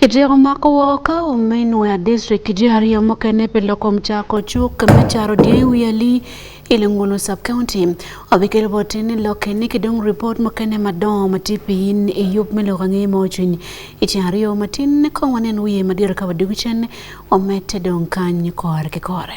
Kityeko mako woko minwe a district ji ariyo mukene pe loko mchako cuk me caro dye i wi ali i Lengulu sub county obikelo boti ni loke ni kidong report mukene madongo ma tye piny i yub me loko angeye ma ocwiny i ceng ariyo matin kong wanen wiye madiro ka wadwogo cen wamete dong kany kore ki kore.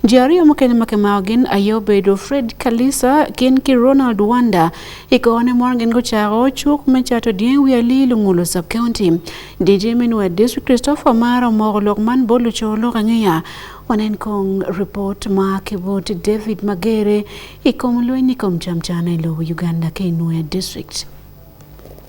Ji ariyo mokene ma kemao gin Ayobedo Fred Kalisa gin ki Ronald Wanda ikone mon gin gochako chuk me cato dien wi ali lungulu sub county DJ Minwa District Christopher Mara omoko lok man bolu cho lok ang'eya wanen kong report ma kibut David Magere ikom lweny ikom chamchana ilo Uganda Kinwa District.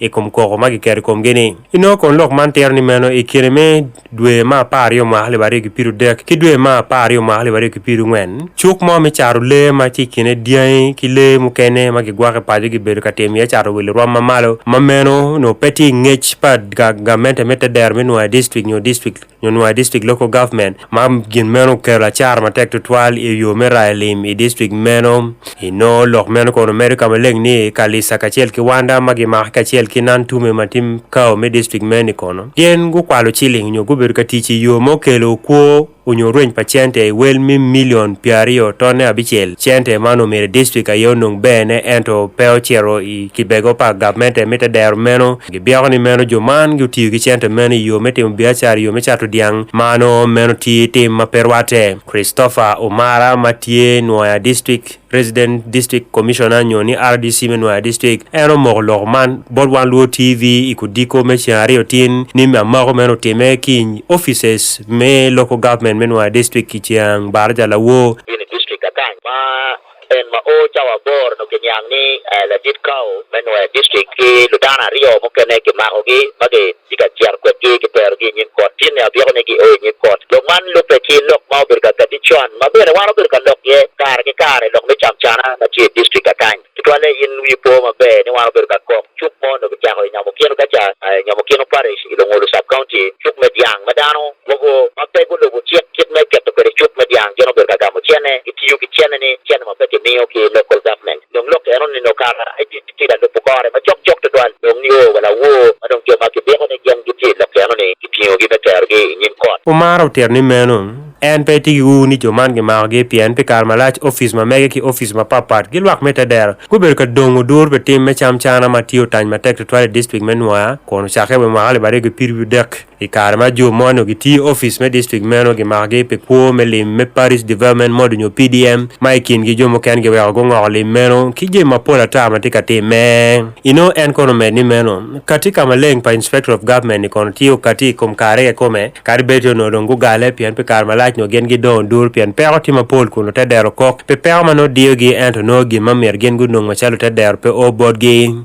i kom koko ma kiketo i komgi-ni. Inongo kun lok man tero ni meno i kine me dwe ma apar aryo mwaka alip aryo ki piru dek ki dwe ma apar aryo mwaka alip aryo ki piru ngwen cuk mo me caro lee ma ci kine dyangi ki lee mukene ma gigwako i paco gibedo ka timo iye caro wil rwom mamalo ma meno nongo pe tye i ngec pa gamente me te dero me nwa district nyo district Nyonwa e district local government ma gin meno okelo acara matek tutwal i yo me rayo lim i district meno i noo lok meno kono medo ka maleng ni kalisa kacel ki wanda ma gimako kacel ki nan tume ma tim kao me district meno i kono gin gukwalo ciling nyo gubedo ka tic i yo ma okelo kwo onyo rweny pa cente wel mi milion pyer aryo tonne abicel cente man omyero district aye onong bene ento pe ocito i kibego pa gavmente me te dero meno Gibyeko ni meno jo man gutiyo ki cente meno i yo me timo biacara i yo me cato dyang mano meno tye tim ma pe rwatte. Christopher Omara ma tye Nwoya District Resident District Commissioner nyo ni RDC me Nwoya District en omoko lok man bot wan Luo TV i kudiko me ceng aryo tin ni me amako meno otime ki offices me local government me Nwoya District i ceng Baraja Lawo. en ma o cawa aboro nongo kiniang ni eh, ladit kawo me nwer district ki ludano aryo mukene kimakogi ma gitye ka cito kwedgi kiterogi i nyim kot tyen ni abyeko ni gio i nyim kot lok man lubbe ki lok ma obedo ka kadi con ma bene wan obedo ka lok ye kare ki kare lok me camcana ma tye i district akany tutwalle in wi po maber ni wan obedo ka kok cuk mo nongo kicako i nyamo kino kaca eh, nyamo kino parish i lungulu sub county cuk me dyang ma dano Mogo ma pe gulubo cik kit me keto kwede cuk me dyang gin obedo ka gamo cene, gitiyo ki cene-ni, cene ma pe kimiyo ki i local government. Dong lok eno nino kara aye tye ka lubo kore macok cok tutwal dong nio wa lawor ma dong jo ma kibiko ni gin gitye i lok eno-ni kitingogi me terogi i nyim kot. Umar otito ni meno en pe etye ki ur ni jo man gimakogi pien pi kare malac opic ma mege ki opic mapat pat gi lwak me te dero gubedo ka dongo dur pi tim me cam cana ma tye otany matek tutwal i district me Nwoya kun ocakke wa i mwaka alip aryo ki pyerabiryo dek. I kare ma jo moni onongo gitye office me district meno gimakogi pi kwo me lim me Parish Development Mode nyo PDM ma i kingi jo mukene giweko gungoko lim meno ki jami mapol ata ma tye ka timme. Inongo en kono omed ni meno, kati ka maleng pa Inspector of Government-ni kono tye okati i kom kare kekome kadi bed onongo dong gugale pien pi kare malac nyo gin gidongo dul pien peko tye mapol kun lute dero kok pi peko ma nongo diyogi ento nongo gin ma myero gin gunong macalo lute dero pe o botgi.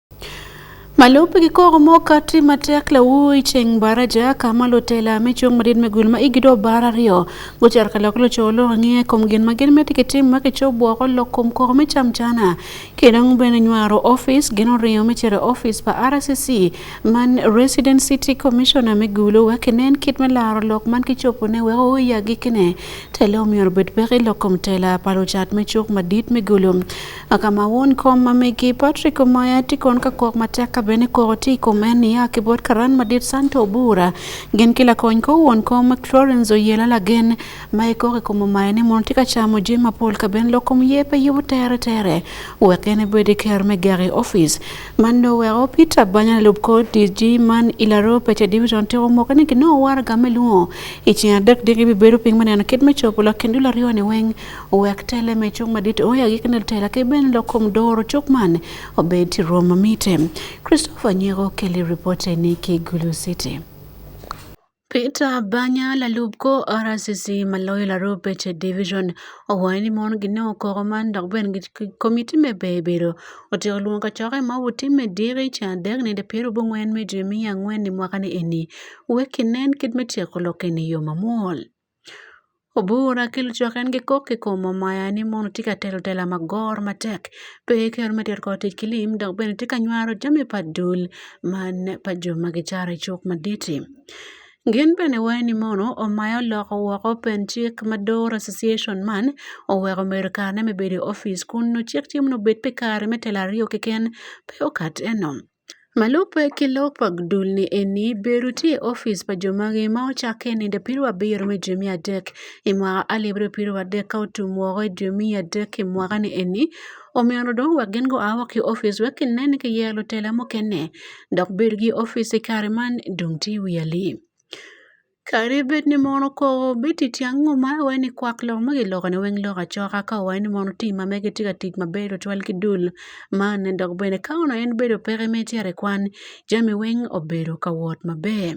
Malup gi koro moka ti matek la wuyi cheng bara ja kama lo tela me chung madit me gul ma igi do bara rio go char ka lok lo cho lo ngi e kom gin ma gin me tike tim ma ke cho bo ko lo kom koro me cham jana ke dang bene nywaro office gin rio me chere office pa RCC man resident city commissioner me gulo wa ke nen kit me laro lok man ki chopo ne wa o ya gi kene telo mi orbet be lo kom tela pa lo chat me chuk madit me gulum Akama won kom ma megi Patrick Omaya tikon ka kok matek ka bene koro ti kome ni ya kibot karan madit santo bura gen kila kony ko won kom Florence Oyela lagen ma ikore komo maya ni mon tika chamo je mapol ka ben lokom yepe yubu tere tere wekene bede ker me gari office mando wero Peter Banya lub ko DG man ilaro peche division tiko moka ni kino war game luo ichina dek digi bibedo ping maneno kit me chopo lakini dula riwa ni weng wek tele me chung madit oya gi kene tela ke ben lo kom doro chok man obed ti roma mite Christopher Nyego keli report ni ki Gulu City Peter Banya lalub ko RCC maloyo laru peche division owaye ni mon gi no koko man dok ben gi komiti me bebedo otiko luong ka choke ma wuti me diri cha dek ne de piero bungwen me jemi angwen ni mwaka ni eni weki nen kit me tieko loke ni yo mamol. Obura kelo chok en gi kok e kom omaya ni mono tika telo tela magor matek. To e ker ma ter koti kilim dok bene tika nywaro jami pa dul mane pa jo ma gicara i cuk maditi. Gin bene waye ni mono omaya oloko woko pen cik ma dor association man oweko medo kar ne me bedo i office kun nongo cik cimo ni obed pi kare me telo aryo keken pe okat eno. Malope ki lok pa dul ni eni bedo tye i opic pa jo magi ma ocakke i nino pirwa abiro me dwe me adek i mwaka alip aryo ki pirwa adek ka otum woko i dwe me adek i mwaka ni eni omyero dong wek gin gua woko ki opic wek ki nen ni ki yero lutela mukene dok bedo ki opic i kare man dong tye wi alim. Kadi bed ni mon okoko bit i tyeng nguma i wai ni kwak lok ma gilokone weng lok acoka ka wai ni mon otim ma mege gitye ka tic maber tutwal ki dul man ne dok bene ka onongo en bedo peke ma icito i kwan jami weng obedo ka wot maber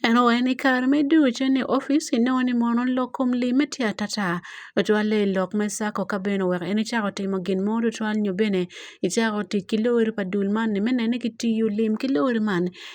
eno wai ni kare me ducu ni opic inongo ni mon olok kom limme tye atata tutwalle i lok me cako ka bene oweko en ecako timo gin mo tutwal nyo bene icako tic ki lori pa dul man ni me nene ni kitiyo lim ki lori man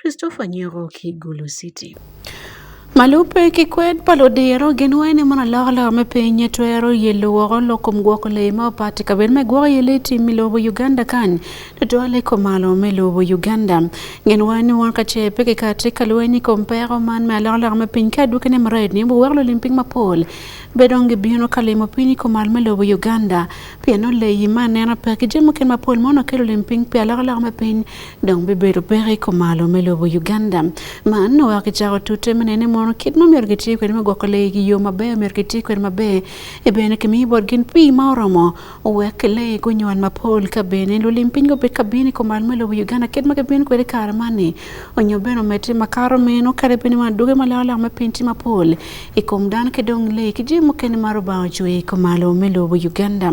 Christopher Nyoro Kigulu City. Malupe kikwed palo diro gin wene mana loko loko me pinye twero ye luwoko loko mgwoko le ma opati kabed me gwoko ye le timi lobo Uganda kan to dole ko malo me lobo Uganda gin wene wan ka che peke ka te ka lweni ko mpero man me loko loko me piny ka duke ne mred ni buwek lo limping ma pol bedo ngi bino ka limo piny ko malo me lobo Uganda piano le yi ma nena peke jemo ken ma pol mono kelo limping pia loko loko me piny dong bibedo pek i kumalo me lobo Uganda. Man oa ki cako tute me nene mono kit ma myero gitye kwede me gwoko lee ki yo maber myero gitye kwede maber e bene kimiyo bot gin pii ma oromo owek lee gunywal mapol ka bene lulim piny gubed ka bino i kumalo me lobo Uganda kit ma gibino kwede kare mani onyo bene omedte makato meno kare bene ma duge ma leo lak me piny tye mapol i kum dano ki dong lee ki jami mukene ma Lubanga ocweyo i kumalo me lobo Uganda.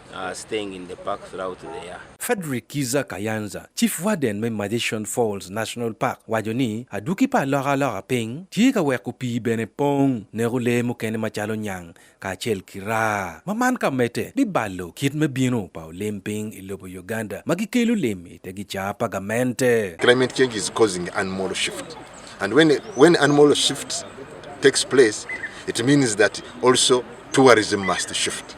Uh, staying in the park throughout the year. Frederick Kiza Kayanza, Chief Warden me Magician Falls National Park, wajo ni aduki pa loka loka piny tye ka weko pii bene pong neko lee mukene macalo nyang kacel ki raa ma man ka mete bibalo kit me bino pa olim piny i lobo Uganda ma gikelo lim i te gicaa pa gamente. Climate change is causing animal shift and when, when animal shift takes place it means that also tourism must shift.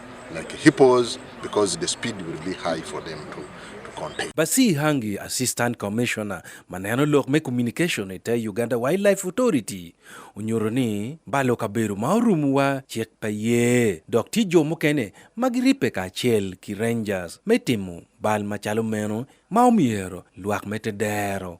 like hippos because the speed will be high for them to contain. Basi Hangi, Assistant Commissioner maneno lok me communication ete Uganda Wildlife Authority onyoro ni balo kaberu ma orumu wa chek pa ye dok ti jo mukene ma giripe ka chel ki rangers me timo bal machalo meno ma omyero lwak me te dero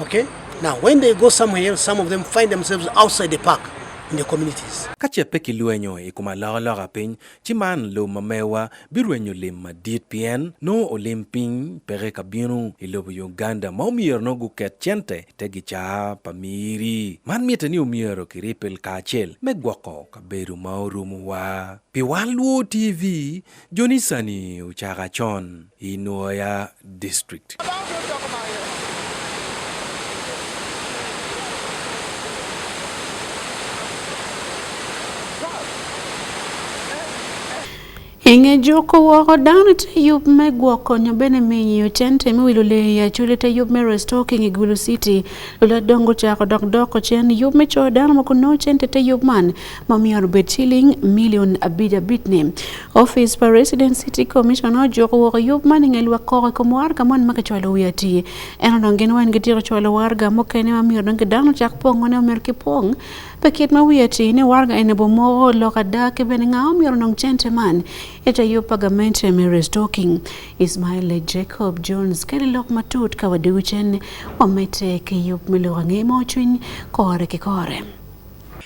Okay? Now, when they go somewhere else, some of them find themselves outside the park in the communities. Ka ce pe kilwenyo i kom alokaloka piny, ci man lobo ma mewa birwenyo lim madit pien nongo olim piny peke ka bino i lobo Uganda ma omyero nongo guket cente te gicaa pa miri. Man mitte ni omyero kiripel kacel me gwoko kabedo ma orumowa. Pi wan Luo TV, Jonisani uchaka chon Inuoya district. Inge joko woko dano te yub me gwoko nyo bene miyo tente mi wilo le ya chule te yub me restocking igulu city lula dongo chako dok doko chen yub me cho dano moko no tente te yub man mamiyo rubed shilling million abid abid ni office pa resident city commission ojuko woko yub mani nge lwa koko kom warga mon ma kichwalo wi ati en odong gin wan gitiro chwalo warga mokene mamiyo dong gidano chak pong one omer ki pong pe kit ma wi ati ni warga ene bo moko loka da ke bene nga omiyo dong chente man eta yub pa gamente me restocking ismail jacob jones keri lok matut ka wadiwi chen wamete ke yub me loka nge mo chwiny kore ki kore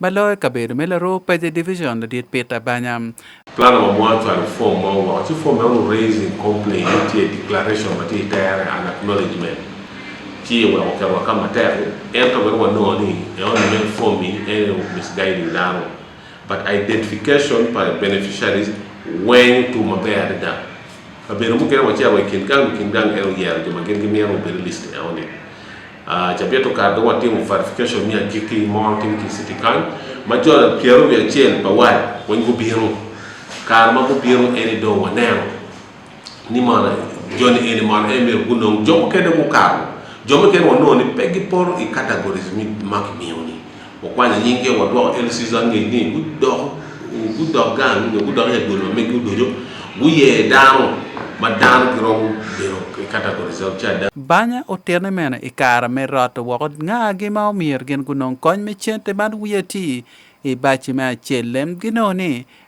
ma loyo kabedo me laroo Paje Division ladit Peter Banya. Plan number one to reform ma wa ci form ma raising complaint ci declaration ma ci tayare an acknowledgement ci wa ko wa kama tayare en to wa no ni e on men form ni en misguiding dano but identification by beneficiaries when to ma bayar da abere mu kere wa ci wa kin kan kin dan el yer de ma gen gen yer o be list e on Uh, cha pia tukadho watimo verification ni akiki mo tim ki city kan ma jo piero bi achiel pa wal won go biro kar ma go biro eni do waneno ni mana joni eni mana emi gunong jomo kede go karo jomo kede wanoni pegi poro i categories mi mak miyo Wa kwani nyinge wa dwa el season ni ni gu do gu do gan ni gu do e gu me gu do jo gu ye dano ma dano ki romo biro ki categories of chada. Banya otene mene i kara me rot woko nga gi ma omir gin gunong kony me cente man wiye ti i baci me acel lem ginoni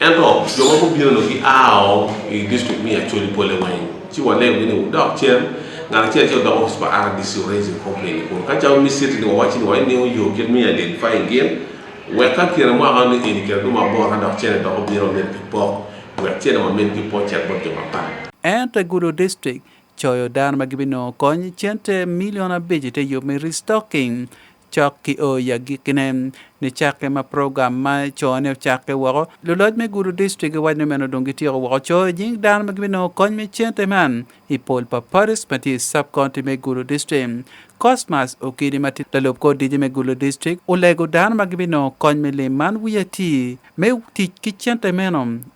Ento jo ma gubino-nu giao i distrikt me Acholi pole weng. Ci wanego ni wudok cen ngat acel acel odok office pa RDC raise complaint kun ka cawa mi city ni wawachi ni wai niyo yo kit mi identify gin wek ka kira mwaka ni eni kira duma bor ka dok cene dok obiro mit ki pok wek cene ma mit ki pok cek bot jo ma pa Ento e Gudo District, coyo dano ma gibinongo kony cente milion abic ite yub me restocking. Cok ki oo i agikkine, nicakke ma program ma cone ocakke woko, luloc me gudo distrik giwaco ni meno dong gityeko woko coo i nying dano ma gibinongo kony me cente man i pol pa parties ma tye i sub-county me gudo distrik. Cosmas Okidi ma tye lalub kor DJ me gudo distrik olego dano ma gibinongo kony me lim man wiye tir me tic ki cente meno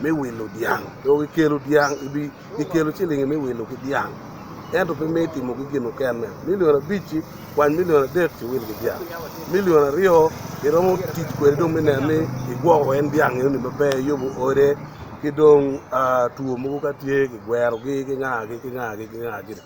me wilo dyang dong gikelo dyang gikelo cilingi me wilo ki dyang ento pe me timo ki gin okene milion abic-ci kwany milion adek ci wil ki dyang milion aryo iromo tic kwede dong me neno ni igwoko en dyang eno ni maber yobo ode ki dong two mogo ka tye kigwerogi ki ngagi ki ngagi ki ngagi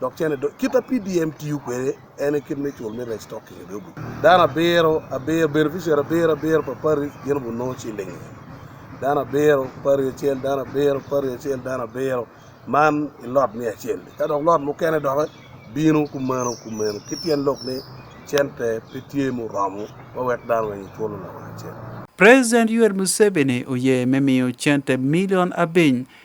dok cene kit apdm tiyo kwede en kit me cul me restock i dobu dano abiro abiro beneficiary abiro abiro pa pari gin bu no cilingi dano abiro pari acel dano abiro pari acel dano abiro man i lot me acel ka dok lot mukene doke bino kumeno kumeno ki tyen lok ni cente pe tye muromo ma wek dano weng iculo lok acel President Yoweri Museveni oye me miyo cente milion abiny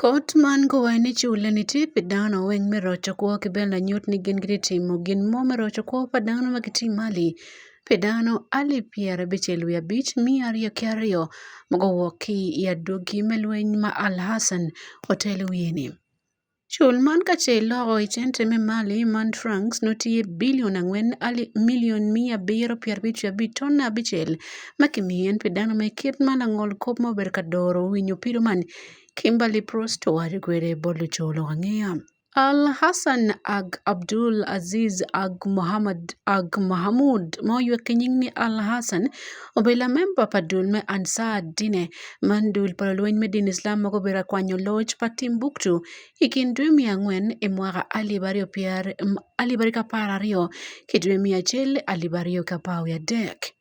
Kot man kowae ni chule ni ti pi dano weng me roco kwo ki bene lanyut ni gin gitye timo gin mo me roco kwo pa dano ma gitye mali pi dano alip pyerabicel wiye abic miya aryo ki aryo ma guwok ki i adwogi me lweny ma Al Hassan otelo wiye-ni. Cul man ka ce iloko i cente me mali man Franks nongo tye bilion angwen alip milion miya abiro pyerabic wiye abic tonne abicel ma kimiyo en pi dano ma i kit ma langol kop ma obedo ka doro winyo pido man Kimberly Prost owari kwere bolu cholo ang'iya. Al Hassan Ag Abdul Aziz Ag Muhammad Ag Mahamud ma oywe ki nying ni Al Hassan obedo lamemba pa dul me Ansar Dine man dul pa lulweny me dini Islam ma gubedo ka kwanyo loc pa Timbuktu i kin dwe miya angwen i mwaka alip aryo pyera alip aryo ki apar aryo ki dwe miya acel alip aryo ki apar wiye adek.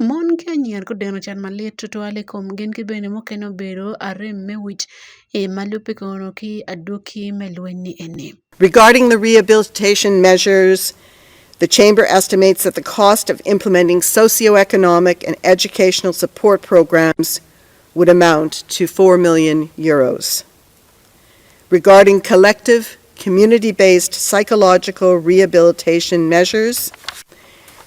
Mon ki anyira ko deno can malit tutwal i kom gengi bene mukene obedo arem me wic ma lubbe kono ki adwoki me lweny ni eni. Regarding the rehabilitation measures, the Chamber estimates that the cost of implementing socioeconomic and educational support programs would amount to 4 million euros. regarding collective community-based psychological rehabilitation measures.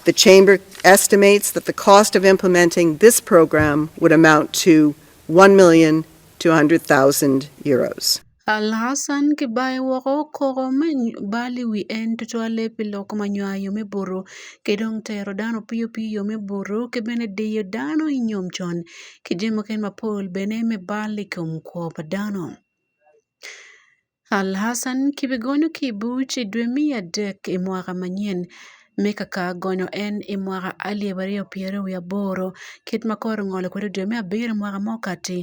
The chamber estimates that the cost of implementing this program would amount to 1,200,000 euros. Alhassan Kibaye woko koko me bali wi en tutwale pi lok ma nywayo me buru ki dong tero dano piyo piyo me buru ki bene diyo dano i nyom con ki jami mukene mapol bene me bal i kom kwo pa dano. Alhassan kibigonyo ki i buc i dwe me adek i mwaka manyen me kaka gonyo en i mwaka alip aryo pyero wiye aboro kit ma kore ongolo kwede i dwe me abiro i mwaka ma okati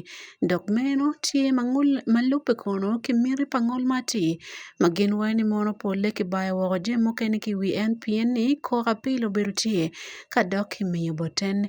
dok meno tye ma lubbe kono ki miti pa ngol ma atir ma gin waco ni mono polle kibayo woko jami mukene ki i wi en pien ni kok apil obedo tye ka dok kimiyo boten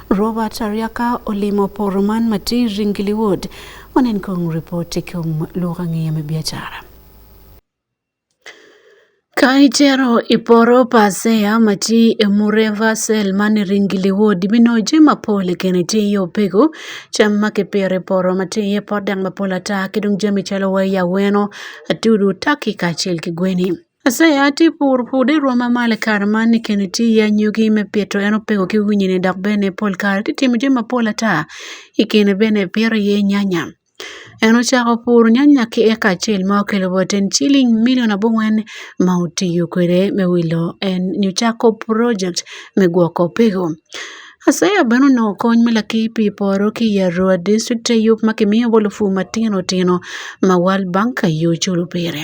Robert Ariaka olimo poro man Matiri Ngili Ward onen kong ripoti kuom lugha ng'iyo me biashara. Ka ichero iporo pasea mati e mureva sel mane ringili wodi mino jima pole kene ti yo pego cham ma ke pere poro mati e podang ma pola ta kidung jami chalo waya weno atudu taki ka chel ki gweni. Ase ya ati pur pude i rwom ma malo i kare man ni keni tye i anyogi me pito en opeko ki winyini dok bene pol kare ti timo jami mapol ata i kine bene ipito iye nyanya en ocako puro nyanya ki eka acel ma okelo bot en ciling milion abongwen ma otiyo kwede me wilo en nyo cako project me gwoko peko Ase ya bene onongo kony me lakir pi poro ki i Arua district te yub ma kimiyo bolo pur matino tino ma World Bank aye oculo pire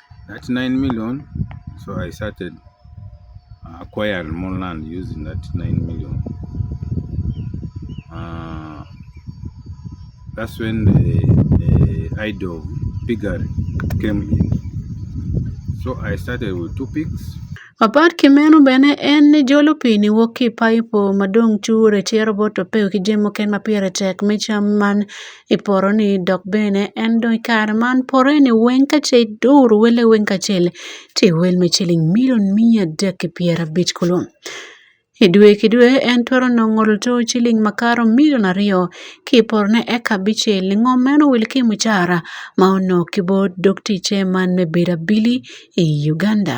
That 9 million, so I started uh, acquired more land using that 9 million. Uh, that's when the, the idol bigger came in. So I started with two pigs. Apart Kimeno bene en ni jolo pi ni wuok ki paipo madong' chuor e tie robot to peo ki jemo ken ma pire tek me cham man iporo ni dok bene en dong kare man pore ni weng ka ce duru wele weng ka cel ti wel me ciling milion miya dek ki pyera bic kulu i dwe ki dwe en twero nongo luto ciling makaro milion aryo ki poro ne eka bice lingo meno wil ki mucara ma ono ki bo dok tice man me bedo abili i Uganda.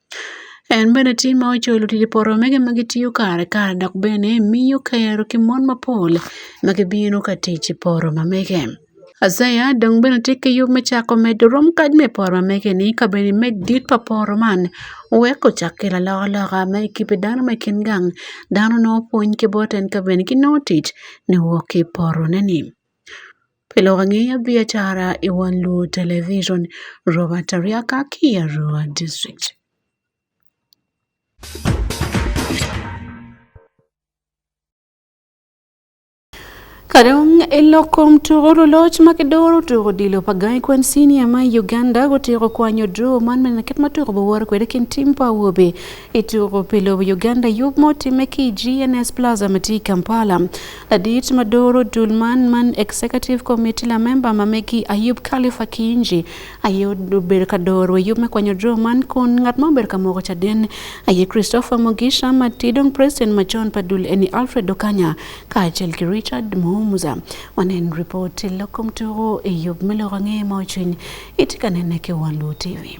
En bende tim ma ocholo tije poro omege ma gitiyo kare kare dok bene miyo kero ki mon mapol ma gibino ka tic i poro mamege. Azaia dong bene tye ki yub me cako medo rom kadi me poro mamege-ni ka bene imed dit pa poro man wek ocak kelo alokaloka ma i kibbe dano ma i kin gang dano nongo pwony ki bote ento bene ginongo tic niwok ki i porone-ni. Pelo wang'eyo biashara e wang' luo television. Robert Ariaka Kiarua District. Kadong eloko mtugo loloch ma kidoro tugo dilo pa gai kwen senior ma Uganda gutiko kwanyo draw man mena ket matugo bawor kwede kin tim pa wobe itugo pilo Uganda yub mo time ki GNS Plaza mati Kampala Ladit Madoro Dulman man Executive Committee la member mameki Ayub Khalifa Kinji ayo ber ka doro Ayub me kwanyo dro man kun ngat ma ber ka moko chaden aye Christopher Mugisha matidong President ma John Padul eni Alfred Okanya kaachiel gi Richard Muhumuza wanen report lokom turo Ayub miloko ng'e ma ochwiny itikanen e Kiwaluu TV.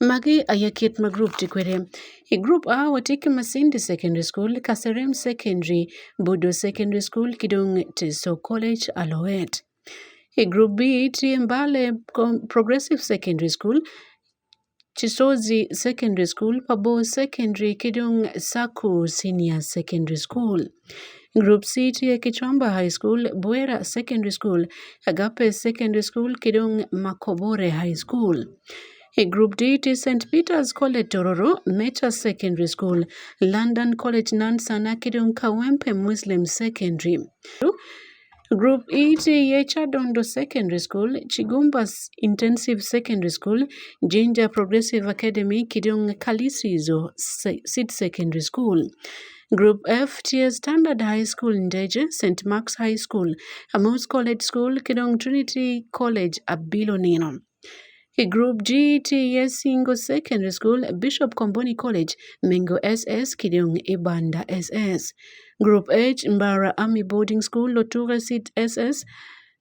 Magi aya kit ma group ti kwede. I group A watye ki Masindi Secondary School, Kaserem Secondary, Budo Secondary School ki dong Teso College Aloet. I group B tye Mbale Progressive Secondary School, Chisozi Secondary School, Pabo Secondary ki dong Saku Senior Secondary School. Group C tiye Kichomba High School, Bwera Secondary School, Agape Secondary School, Kidong Makobore High School. E Group D ti St Peters College Tororo, Mecha Secondary School, London College Nansana, Kidong Kawempe Muslim Secondary. Group E ti ye Chadondo Secondary School, Chigumbas Intensive Secondary School, Jinja Progressive Academy, Kidong Kalisizo Seed Secondary School. Group F ti ye Standard High School Ndeje, St Mark's High School, Amos College School, Kidong Trinity College Abilo Nino. E grup G, TES Singo Secondary School, Bishop Komboni College, Mengo SS, Kidong Ibanda SS. Group H, Mbara Army Boarding School, Loture Seed SS,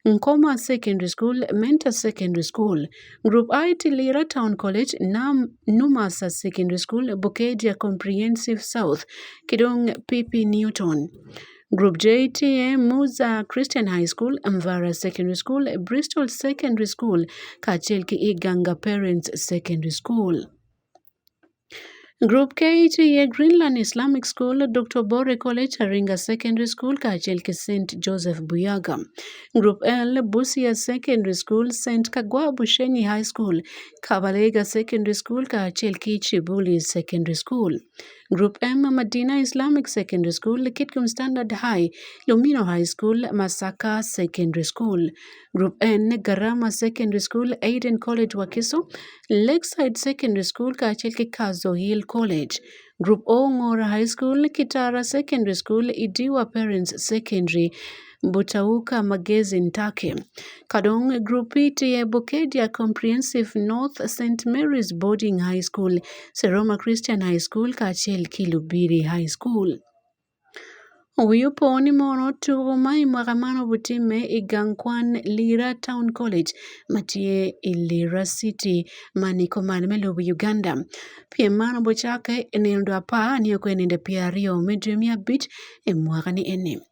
Nkoma Secondary School, Mentor Secondary School, Group I Tilira Town College, Nam Numasa Secondary School, Bukedia Comprehensive South, Kidong Pipi Newton. Group JTA, Muza Christian High School, Mvara Secondary School, Bristol Secondary School kaachiel gi Iganga Parents Secondary School. Group KTA Greenland Islamic School, Dr. Bore College, Aringa Secondary School kaachiel gi St. Joseph Buyaga. Group L Busia Secondary School, St. Kagwa Bushenyi High School, Kabalega Secondary School kaachiel gi Chibuli Secondary School. Group M, Madina Islamic Secondary School, Kitgum Standard High, Lumino High School, Masaka Secondary School. Group N, Garama Secondary School, Aiden College Wakiso, Lakeside Secondary School, kaachiel gi Kazo Hill College. Group O, Ng'ora High School, Kitara Secondary School, Idiwa Parents Secondary. Butawuka Magezi Ntake kadong e grup E tiye Bukedia Comprehensive North St Mary's Boarding High School, Seroma Christian High School kaachiel Kilubiri High School. Huyu poni mono tugo mai mwakamano butime igankwan Lira Town College matie e Lira City mani komani melubu Uganda. Piem mano bochake e nindo apar ni okwe ninde piario medre mia bich e mwakani eni.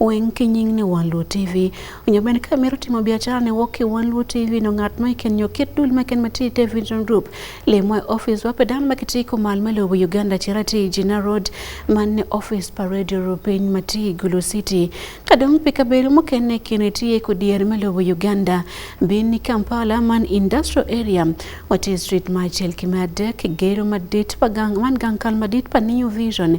weng ki nying ni wan luo tv onyo bende ka mero timo biashara ne wok ki wan luo tv no ngat ma iken nyo kit dul ma ken mati te vision group le mo office wape dan ma kiti ko mal ma lobo uganda chira ti jina road man ne office pa radio rupin mati gulu city ka dong pe ka bel mo ken ne ken ti ko dier ma lobo uganda bin ni kampala man industrial area wati street ma chel ki ma dek gero ma dit pa gang man gang kal ma dit pa new vision